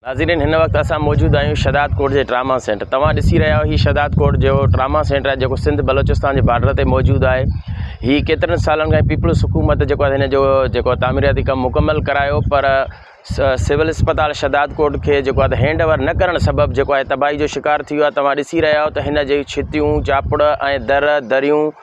ناظرين هن وقت اسان موجود آهيون شھداد ڪوٽ جي ٽراما سينٽر توهان ڏسي رهيا آهيو هي شھداد ڪوٽ جو ٽراما سينٽر آهي جيڪو سنڌ بلوچستان جي بارڊر تي موجود آهي هي ڪيترن سالن کان پيپلز حڪومت جيڪو آهي هن جو جيڪو تعميراتي ڪم مڪمل ڪرايو پر سول اسپتال شھداد ڪوٽ کي جيڪو آهي هينڊ اوور نه ڪرڻ سبب جيڪو آهي تباهي جو شڪار ٿي ويو آهي توهان ڏسي رهيا آهيو ته هن جي ڇتيون چاپڙ ۽ در دريون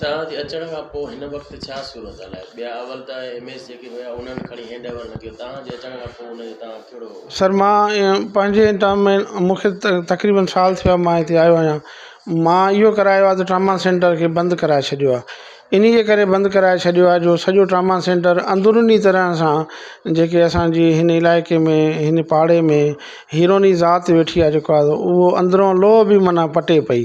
توهان جي اچڻ کان پوء هن وقت ڇا صورتحال آهي؟ ٻيا اول ته ايم ايس جيڪي هيا انهن کڻي هينڊ اوور نه ڪيو، توهان جي اچڻ کان پوء ان جو تناظ ڪهڙو هو؟ سر مان پنهنجي ٽرم ۾ مون کي تقريبن سال ٿيو آهي مان هتي آيو آهيان مان اهو ڪرايو آهي ته ٽراما سينٽر کي بند ڪرائي ڇڏيو آهي انهي جي ڪري بند ڪرائي ڇڏيو آهي جو سڄو ٽراما سينٽر اندروني طرح سان جيڪي اسانجي هن علائقي ۾ هن پاڙي ۾ هيروني ذات ويٺي آهي جيڪو آهي اهو اندرون لوهه به معنيٰ پٽي پئي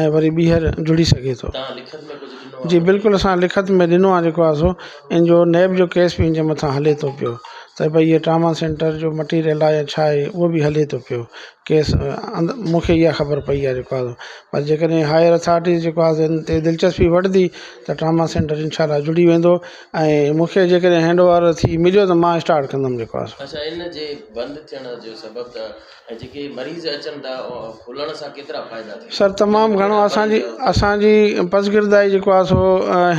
۽ وري ٻيهر جڙي سگهي ٿو جي بلڪل اسان لکت ۾ ڏنو آهي جيڪو آسو ان جو نيب جو ڪيس به ان جي مٿان هلي ٿو پيو ته بھي هي ٽراما سينٽر جو مٽيريل آهي يا ڇا آهي اهو به هلي ٿو پيو ڪيس مونکي اها خبر پئي آهي جيڪو آسو پر جيڪڏهن هائير اٿارٽيز جيڪو آسو ان تي دلچسپي وٺندي ته ٽراما سينٽر انشاء الله جڙي ويندو ۽ مونکي جيڪڏهن هينڊ اوور ٿي مليو ته مان اسٽارٽ ڪندم جيڪو آسو سر تمام گهڻو اسان جي اسان جي پسگردائي جيڪو آ سو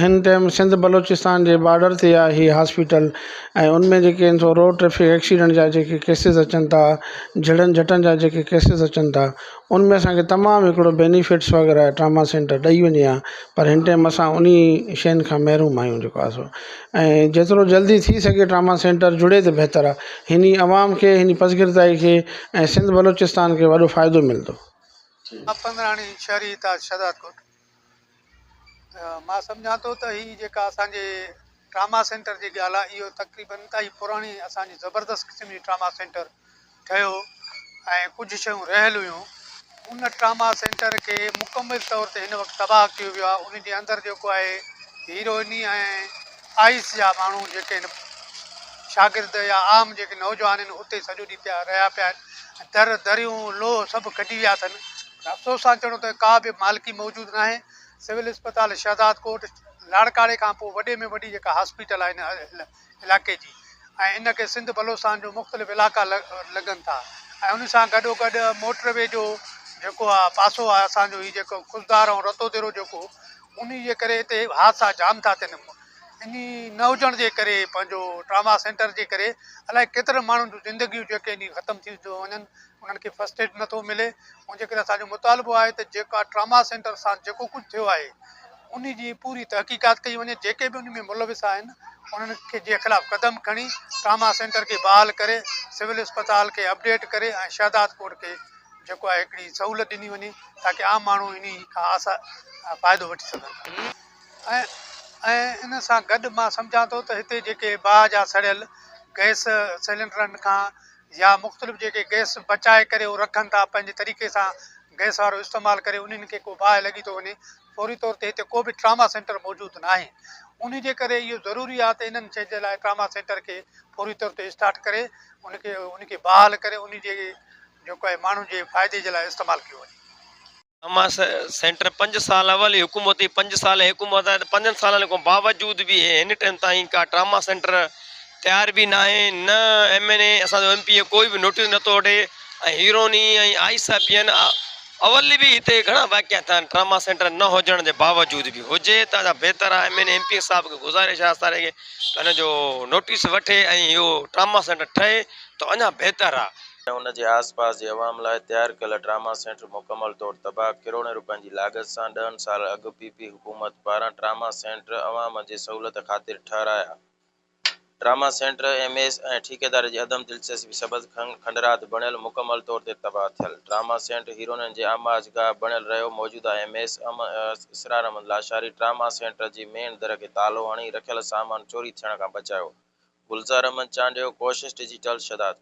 هن ٽيم سنڌ بلوچستان جي بارڊر تي آ هي هاسپيٽل ۽ ان ۾ جيڪي آهن سو روڊ ٽريفڪ ايڪسيڊنٽ جا جيڪي ڪيسز اچن ٿا جهڙن جٽن جا جيڪي ڪيسز اچن ٿا ان ۾ اسان کي تمام هڪڙو بينيفٽس وغيره ٽراما سينٽر ڏئي وڃي آ پر هن ٽيم اسان انهي شين کان محروم آهيون جيڪو آ سو ۽ جيترو جلدي ٿي سگهي ٽراما سينٽر جڙي ته بهتر آهي هن ئي عوام کي هن ئي پسگردائي کي ۽ سنڌ بلوچستان کي وڏو فائدو ملندو. پنڌراڻي شھري اتحاد شھدادڪوٽ مان سمجهان ٿو ته هي جيڪا اسان جي ٽراما سينٽر جي ڳالهه آهي اهو تقريبن انتهائي پراڻي اسان جي زبردست قسم جي ٽراما سينٽر ٺهيو ۽ ڪجهه شيون رهيل هيون. ان ٽراما سينٽر کي مڪمل طور تي هن وقت تباهه ڪيو ويو آهي. ان جي اندر جيڪو آهي هيروئني ۽ آئس جا ماڻهو جيڪي هن شاگرد يا عام جيڪي نوجوان هن اتي سڄو ڏينهن پيا رهيا پيا آهن. در دريون لوهه سڀ ڪڍي ويا اٿن. افسوس سان چئڻو ته ڪا به مالڪي موجود ناهي. سول اسپتال شهدادڪوٽ لاڙڪاڻي کان پوء وڏي ۾ وڏي جيڪا هاسپيٽل آهي هن علائقي جي ۽ ان کي سنڌ بلوچستان جو مختلف علائقا لڳن ٿا ۽ ان سان گڏو گڏ موٽر وي جو جيڪو آهي پاسو آهي اسان جو هي جيڪو خضدار ۽ رتو ديرو جيڪو ان جي ڪري هتي حادثا جام ٿا ٿين ان نه هجڻ جي ڪري پنهنجو ٽراما سينٽر جي ڪري الائي ڪيترن ماڻهن جون زندگيون جيڪي ختم ٿيون ٿيون وڃن انهن کي فرسٽ ايڊ نٿو ملي ان جي ڪري اسان جو مطالبو آهي ته جيڪا ٽراما سينٽر سان جيڪو ڪجهه ٿيو آهي ان جي پوري تحقيقات ڪئي وڃي جيڪي به ان ۾ ملوث آهن انهن کي جي خلاف قدم کڻي ٽراما سينٽر کي بحال ڪري سول اسپتال کي اپڊيٽ ڪري ۽ شهداد ڪوٽ کي جيڪو آهي هڪڙي سهولت ڏني وڃي تاڪي عام ماڻهو ان کان آسا فائدو وٺي سگهن ۽ ان سان گڏ مان سمجهان ٿو ته هتي جيڪي باهه جا سڙيل گئس سيلنڊرن کان يا مختلف جيڪي گئس بچائي ڪري اهو رکن ٿا پنهنجي طريقي سان گئس وارو استعمال ڪري انهن کي ڪو باهه لڳي ٿو وڃي فوري طور تي هتي ڪو به ٽراما سينٽر موجود نه آهي انهي جي ڪري اهو ضروري آهي ته انهن شين جي لاء ٽراما سينٽر کي فوري طور تي اسٽارٽ ڪري ان کي ان کي بحال ڪري انهي جي جيڪو آهي ماڻهن جي فائدي جي لاء استعمال ڪيو وڃي. اما سينٽر پنج سال اول ئي حڪومت ھئي پنج سال ھي حڪومت آھي ته پنجن سالن کان باوجود به ھن ٽيم تائين ڪا ٽراما سينٽر تيار به ناھي نه ايم اين اي اسان جو ايم پي اي ڪوئي به نوٽيس نٿو وٺي ۽ ھيروني ۽ آئي سا پين اول به ھتي گھڻا واقعا ٿيا آھن ٽراما سينٽر نه ھجڻ جي باوجود به ھجي ته بھتر آھي M N A M P A صاحب کي گذارش آھي ساري کي ھن جو نوٽيس وٺي ۽ اھو ٽراما سينٽر ٺھي ته اڃا بھتر آھي ۽ ان جي آس پاس جي عوام لاء تيار ڪيل ٽراما سينٽر مڪمل طور تباهه، ڪروڙين رپين جي لاڳت سان ڏهن سال اڳ پي پي حڪومت پاران ٽراما سينٽر عوام جي سهولت خاطر ٺهرايا ٽراما سينٽر ايم ايس ۽ ٺيڪيدار جي عدم دلچسپي سبب کنڊرات بڻيل مڪمل طور تي تباهه ٿيل ٽراما سينٽر هيروئنن جي آماج گاهه بڻيل رهيو موجوده M S M Israr Ahmed Lashari trauma centre جي مين در کي تالو هڻي رکيل سامان چوري ٿيڻ کان بچايو گلزار احمد چانڊيو ڪوشش ڊجيٽل شهدادپور.